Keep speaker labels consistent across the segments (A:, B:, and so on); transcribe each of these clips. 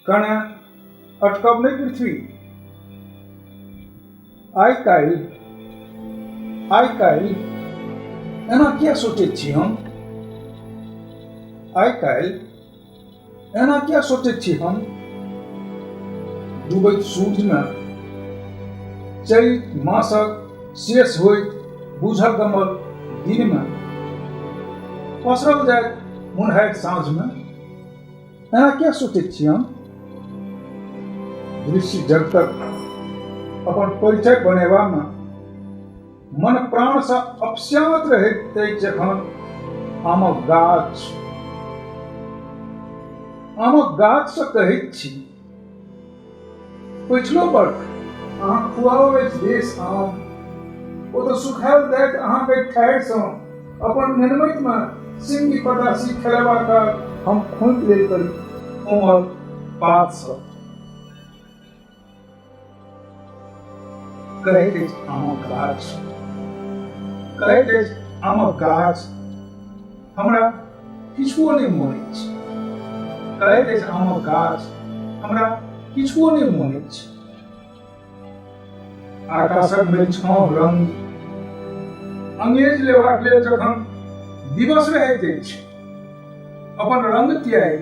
A: कणे अटकब नहीं पृथ्वी आई काल आई काल एना क्या सोचे छी हम आई काल एना क्या सोचे छी हम डूबैत सूर्य में चैत मासक शेष हो बुझल गमल दिन में पसरल जाए मुनहैत साँझ में एना किया सोचै छी हम ऋषि जब तक अपन परिचय बनेबामे मन प्राणसँ अपस्यात रहैत अछि जखन आमक गाछ आमक गाछसँ कहैत छी पछिलो वर्ष अहाँ खुआओ अछि देश आम ओ तऽ सुखायल दैत अहाँके ठाढ़िसँ अपन निर्मतमे सिंह पदासी खेलबा काल हम खोंत लेल करी कोमल पात सँ कहैत अछि आमक गाछ कहैत अछि आमक गाछ हमरा किछुओ नहि मोन अछि कहैत अछि आमक गाछ हमरा किछुओ नहि मोन अछि आकाशक भेल छाँव रंग अंगेज लेबाक लेल जखन दिवस रहैत अछि अपन रंग त्याग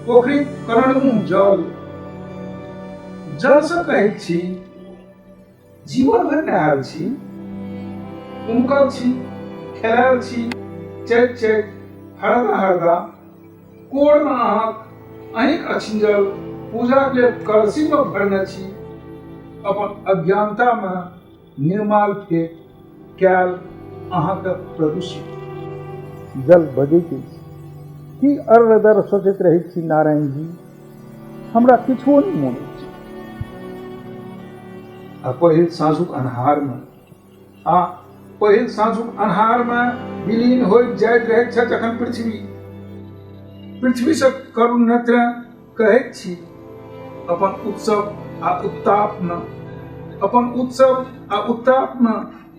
A: पोखरी करण मुँह जल जलसँ कहैत छी जीवन भरि नहायल छी उमकल छी खेलायल छी चैत चैत हरदा हरदा कोरमे अहाँक अहींक अछिंजल पूजाक लेल कलसीमे भरने छी अपन अज्ञानतामे निर्माल के कैल अहाँके प्रदूषित जल बजैत अछि की अर्ध दर सोचैत रहैत छी नारायण जी हमरा किछो नहि मोन अछि आ पहिल साँझुक अन्हारमे आ पहिल साँझुक अन्हारमे विलीन होइत जाइत रहैत छथि जखन पृथ्वी पृथ्वीसँ करुण नेत्र कहैत छी अपन उत्सव आ उत्तापमे अपन उत्सव आ उत्तापमे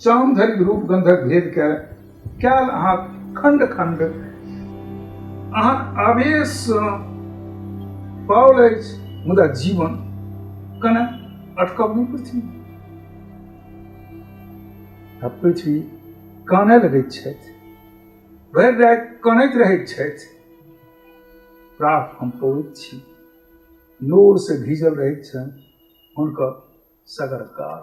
A: चाम धरि रूप गंधक भेद के कैल अहाँ खंड खंड अहाँ आवेश पाओल अछि मुदा जीवन कने अटकब नहि पृथ्वी पृथ्वी कानय लगैत छथि भरि राति कनैत रहैत छथि प्राप हम पौड़ैत छी नोर से भीजल रहैत छनि हुनकर सगर काल